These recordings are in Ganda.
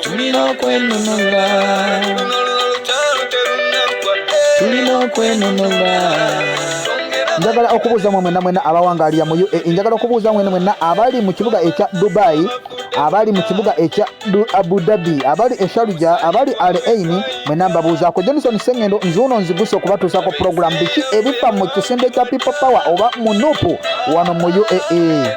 tulina okwenunula tulina okwenunula njagala okubuuza mwe mwena mwena abawangalira mu uae njagala okubuuza mwena mwena abali mu kibuga ekya dubai abali mu kibuga ekya abu dhabi abali esharuja abali al aini mwena mbabuuzaako johnson sengendo nzuuno nziguse okubatuusaako pulogulamu biki ebifa mu kisinde kya people power oba mu nupu wano mu uae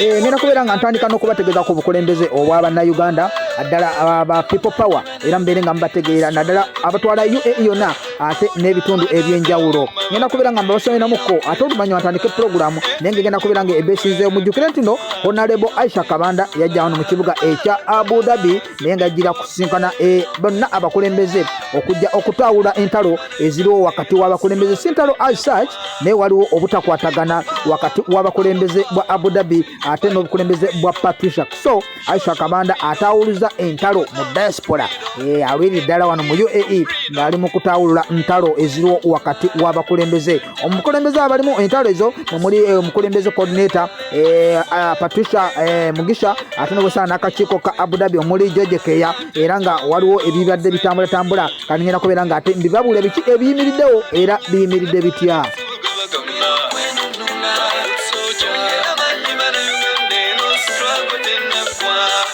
Eh, nina kubeera nga ntandika n'okubategeeza ku bukulembeze obwa bannayuganda addala aba people power era mubeere nga mubategeera naddala abatwala uae yonna ate n'ebitundu eby'enjawulo ngenda kubeera nga mbabasomeramukko ate oluvannyuma ntandike pulogulaamu naye nga egenda kubeera nga ebesinzeewo mujjukire ntino honalebo aisha kabanda yajja wano mu kibuga ekya abu dhabi naye nga jjira kusinkana eh, bonna abakulembeze okujja okutawula entalo eziriwo wakati w'abakulembeze si ntalo as such naye waliwo obutakwatagana wakati w'abakulembeze bwa abu dhabi ate n'obukulembeze bwa patricia so aisha kabanda atawuluza entalo mu diaspora eh, alwiri ddala wano mu uae ng'ali mu kutawulula ntalo eziriwo wakati w'abakulembeze omukulembeze abalimu entalo ezo mumuli eh, omukulembeze coordinator Eh, ah, Patricia eh, Mugisha atonogosana n'akakiiko ka Abu Dhabi omuli George Keya era nga waliwo ebibadde bitambulatambula kati ngenda kubeera nga ate mbibabuule biki ebiyimiriddewo era biyimiridde bitya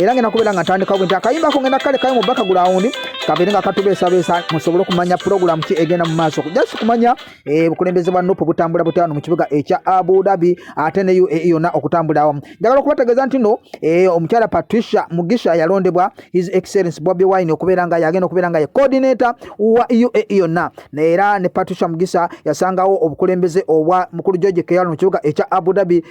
era ngenda kubeera nga ntandikawo bwenti akayimba ako ngenda kale kayo mu bakagulawundi kabeere nga katubeesabeesa musobole okumanya pulogulaamu ki egenda mu maaso just kumanya eh, bukulembeze bwa nupu butambula butya wano mu kibuga ekya abu dhabi ate ne uae yonna okutambula awamu njagala okubategeeza nti no eh, omukyala patricia mugisha yalondebwa his excellence bobi wine okubeera nga yagenda okubeera nga ye coordinator wa uae yonna era ne patricia mugisha yasangawo obukulembeze obwa mukulu george keyalo mu kibuga ekya abu dhabi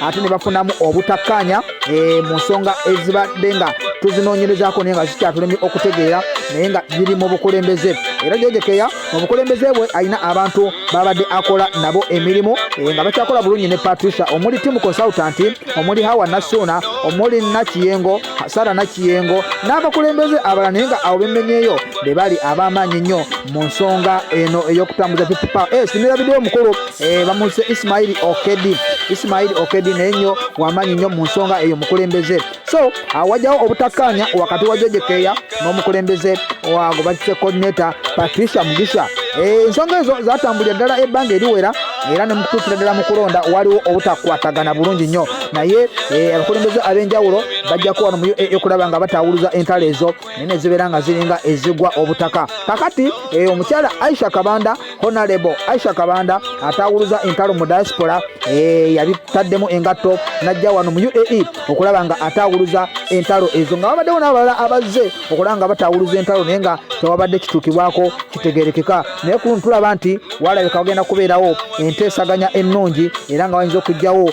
ate ne bafunamu obutakkaanya eh, mu nsonga ezibadde nga tuzinoonyerezaako naye nga zikyatulemye okutegeera naye nga biri mu bukulembeze era jojekeya mu bukulembeze bwe alina abantu babadde akola nabo emirimu eh, nga bakyakola bulungi ne patricia omuli timu consultant omuli hawa nasuuna omuli nakiyengo sara nakiyengo n'abakulembeze abala naye nga awo bemenyeyo be bali ab'amaanyi nnyo mu nsonga eno ey'okutambuza ppa eh, sinirabidewo omukulu Eh, bamuyise isimaili okedi isimaili okedi naye nyo wamanyi nyo mu nsonga eyo mukulembeze so awajawo ah, obutakkaanya wakati wa jojekeeya n'omukulembeze wago batise coordinator patricia mugisha eh, ensonga ezo zatambulira ddala ebbanga eriwera era ne mukutuukira ddala mu kulonda waliwo obutakwatagana bulungi nnyo naye eh, abakulembeze ab'enjawulo bajja kuwano mu uaa okulaba nga bataawuluza entalo ezo naye ne zibeera nga ziringa ezigwa obutaka kakati omukyala aisha kabanda honalebo aisha kabanda atawuluza entalo mu diaspora eh, yabitaddemu engatto najja wano mu uae okulaba nga atawuluza entalo ezo nga wabaddewo n'abalala abazze okulaba nga batawuluza entalo naye nga tewabadde kituukibwako kitegerekeka naye kuluno tulaba nti walabika wagenda kubeerawo enteesaganya ennungi era nga wayinza okugjawo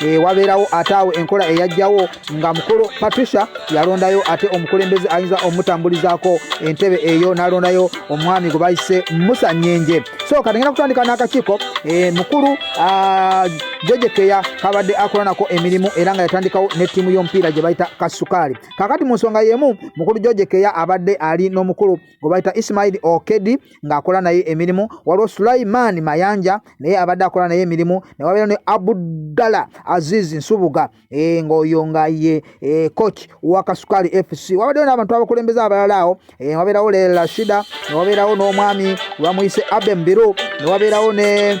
e, wabeerawo ate awo enkola eyajjawo nga mukulu patricia yalondayo ate omukulembeze ayinza omutambulizaako entebe eyo nalondayo omwami gwe bayise musa nyenje so katengenda kutandika n'akakiiko e, mukulu jejekeya kabadde akola nako emirimu era nga yatandikawo ne ttiimu y'omupiira gye bayita kasukaali kakati mu nsonga y'emu mukulu jejekeya abadde ali n'omukulu gwe bayita ismaili okedi ng'akola naye emirimu waliwo sulaiman mayanja naye abadde akola naye emirimu ne wabeera ne abudala azizi nsubuga e, ng'oyo nga ye e, coach wa kasukali fc wabaddewo n'abantu abakulembeze abalala awo e, wabeerawo lelashida ne wabeerawo n'omwami wamuyise abembiru ne wabeerawo ne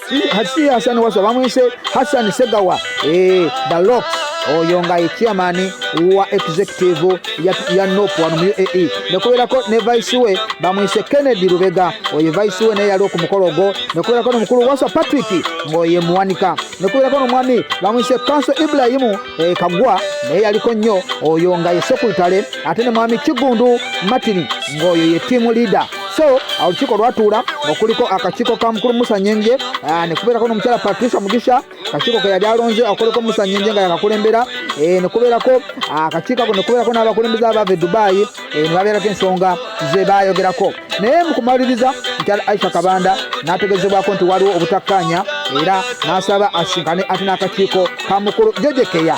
si Hassan Wasswa bamwise Hassan Segawa eh, the lock oyo nga ye chairman wa executive ya, ya nop wano mu uae nekuberako ne vice we bamwise kennedy lubega oyo vice we naye yali okumukolo ogwo nekuberako nomukulu waswa patrick ngaoye muwanika nekuberako nomwami bamwise kanso ibrahimu e, kagwa naye yaliko nnyo oyo nga ye sekulitale ate ne mwami kigundu martin ngaoyo ye tiamu leader so olukiiko lwatuula okuliko akakiiko ka mukulu musa nyenje ah, nekubeerako nomukyala patricia mugisha akakiiko ke yali alonze okuliko musa nyenje nga yakakulembera eh, nekubeerako ah, akakiiko ako nekubeerako n'abakulembeza abaava e dubayi eh, nebabeerako ensonga ze bayogerako naye mukumaliriza mukyala aisha kabanda nategezebwako nti waliwo obutakkaanya era nasaba asinkane ate n'akakiiko ka mukulu jojekeya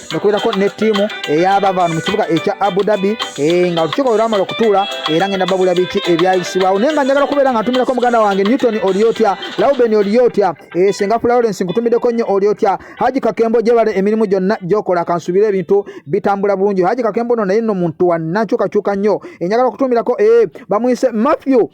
nekubeerako ne ttiimu eyabavaanu mu kibuga ekya abu dhabi eh, nga olukiiko lwamala okutuula era ngenda babula biki ebyayisibwawo naye nga njagala kubeera nga ntumirako muganda wange newton olyotya lauben olyotya eh, senga florence nkutumiddeko nnyo olyotya haji kakembo gyebale emirimu gyonna gyokola kansubire ebintu bitambula bulungi haji kakembo no naye no muntu wanankyukakyuka nnyo enjagala eh, okutumirako bamwise matthew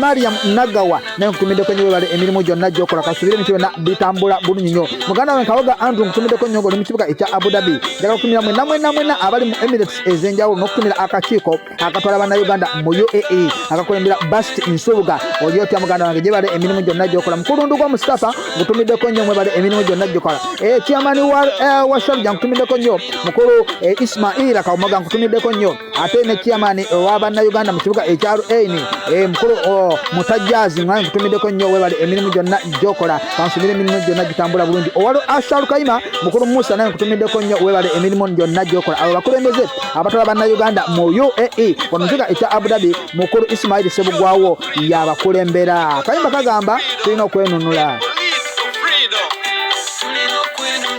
Mariam Nagawa naye nkutumidde kwenye webale emirimu gyonna gyokola kasubire ebintu byonna bitambula bulungi nnyo muganda we nkawoga Andrew nkutumiddeko nnyo ng'oli mu kibuga ekya Abu Dhabi njagala kutumira mwena mwena mwena abali mu Emirates ez'enjawulo n'okutumira akakiiko akatwala bannayuganda mu UAE akakulembera Bast Nsubuga oli otya muganda wange gyebale emirimu gyonna gyokola mukulundu gwa Mustafa nkutumiddeko nnyo mwebale emirimu gyonna gyokola eh, chairman wa eh, shabja nkutumiddeko nnyo mukulu eh, Ismail Kawumoga nkutumiddeko nnyo ate ne chairman owa bannayuganda mu kibuga ekya rn e, mukulu musajjazi nga nkutumiddeko nnyo webale emirimu gyonna gyokola kansubira emirimu gyonna gitambula bulungi owali asharu kayima mukulu musa naye nkutumiddeko nnyo webale emirimu gyonna gyokola abo bakulembeze abatwala bannayuganda mu uae wano kibuga ekya abudhabi mukulu isimaili sebugwawo yabakulembera kayimba kagamba tulina okwenunula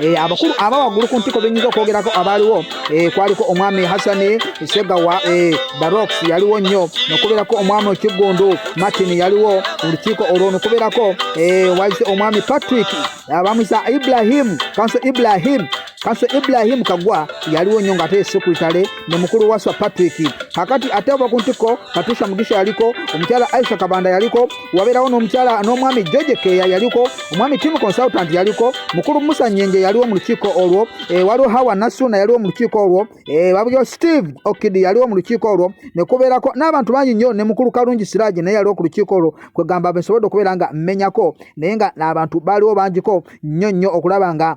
Eh, abakulu aba waggulu ku ntiko benyinza okwogerako abaaliwo eh, kwaliko omwami hasani segawa eh, barox yaliwo nnyo nokubeerako omwami okiggundu martin yaliwo olukiiko olwo nokubeerako wayise omwami patrick abamwisa ibrahim kanso ibrahim kanso ibrahim kagwa yaliwo nnyo nga ate sekuritale ne mukulu waswa patrick kakati ate oba ku ntiko patricia mugisha yaliko omukyala aisha kabanda yaliko wabeerawo n'omukyala n'omwami george keya yaliko omwami tim consultant yaliko mukulu musa nyenje yaliwo mu lukiiko olwo e, waliwo hawa nasuna yaliwo mu lukiiko olwo e, wabyo steve okidi yaliwo mu lukiiko olwo ne kubeerako n'abantu bangi nnyo ne mukulu kalungi siraaji naye yaliwo ku lukiiko olwo kwegamba bensobodde okubeera nga mmenyako naye nga n'abantu baaliwo bangiko nnyo nnyo okulaba nga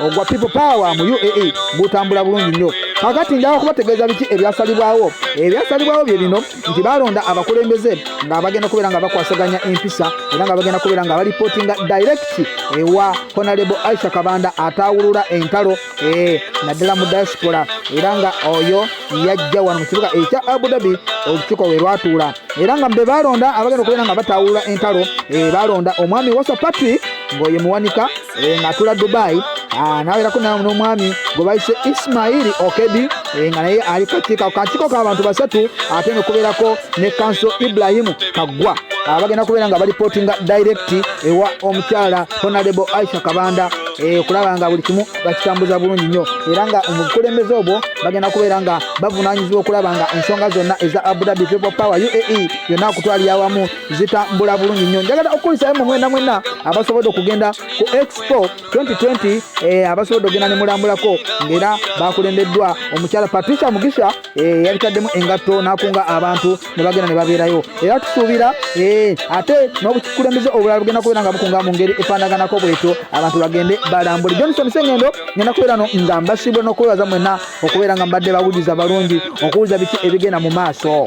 ogwa people power mu uae gutambula bulungi nnyo kakati njala kubategeeza biki ebyasalibwawo ebyasalibwawo bye bino nti balonda abakulembeze ng'abagenda kubeera nga bakwasaganya empisa era nga bagenda kubeera nga balipootinga direct ewa honalebo aisha kabanda ataawulula entalo eh, naddala mu diaspora era nga oyo yajja wano mu kibuga ekya abudhabi olukiiko we lwatuula era nga be balonda abagenda okubeera nga bataawulula entalo eh, balonda omwami wasa patrick ng'oyo muwanika eh, ng'atula dubai ah, nawerako nawe n'omwami gwe bayise ismaili okedi eh, nga naye ali kakiiko kakiiko k'abantu basatu ate nekubeerako ne kanso ibrahimu kaggwa ah, bagenda kubeera nga balipotinga direkiti ewa omukyala honarebo aisha kabanda Eh, okulaba nga buli kimu bakitambuza bulungi nnyo era nga omubukulembeze obwo bagenda kubeera nga bavunanyizibwa okulaba nga ensonga zonna eza abudhabi people power uae yonna okutwalira awamu zitambula bulungi nnyo njagala okukulisayo mu mwena mwena abasobodde okugenda ku expo 2020 eh, abasobodde okugenda ne mulambulako ng'era bakulembeddwa omukyala patricia mugisha eh, yabitaddemu engatto n'akunga abantu ne bagenda ne babeerayo era tusuubira eh, ate n'obukulembeze obulala bugenda kubeera nga bukunga mu ngeri efaanaganako bwetyo abantu bagende balambule johnson sengendo ngenda kubeera no nga mbasibwe n'okwebaza mwena okubeera nga mbadde bawuliza balungi okuwuliza biki ebigenda mu maaso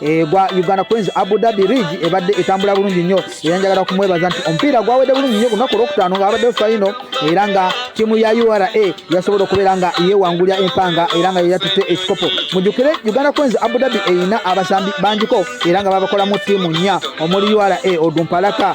Eh, gwa Uganda Queens Abu Dhabi League ebadde etambula bulungi nnyo era njagala okumwebaza nti omupiira gwawedde bulungi nnyo kunaku olwokutaano nga abadde fayino era nga ttiimu ya ura yasobola okubeera nga yeewangulira empanga era nga yeyatutte ekikopo mujukire Uganda Queens Abu Dhabi erina abasambi bangiko era nga babakolamu ttiimu nnya omuli ura odumpalaka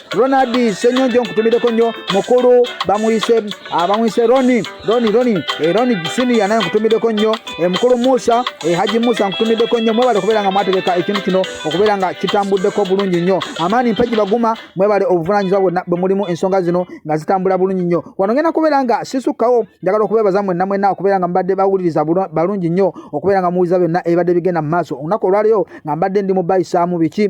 Ronald Senyonjo nkutumireko nnyo mukulu bamuyise abamuyise ah, Roni Roni Roni eh, Roni Senior naye nkutumireko nnyo eh, mukulu Musa eh, Haji Musa nkutumireko nnyo mwebale okubeera nga mwategeka ekintu kino okubeera nga kitambuddeko bulungi nnyo amaani mpagi baguma mwebale obuvunaanyizibwa bwonna bwe mulimu ensonga zino nga zitambula bulungi nnyo wano ngenda kubeera nga sisukkawo njagala okubeebaza mwenna mwenna okubeera nga mbadde bawuliriza balungi nnyo okubeera nga muwuliza byonna ebibadde bigenda mu maaso olunaku olwaliyo nga mbadde ndi mu bayisaamu biki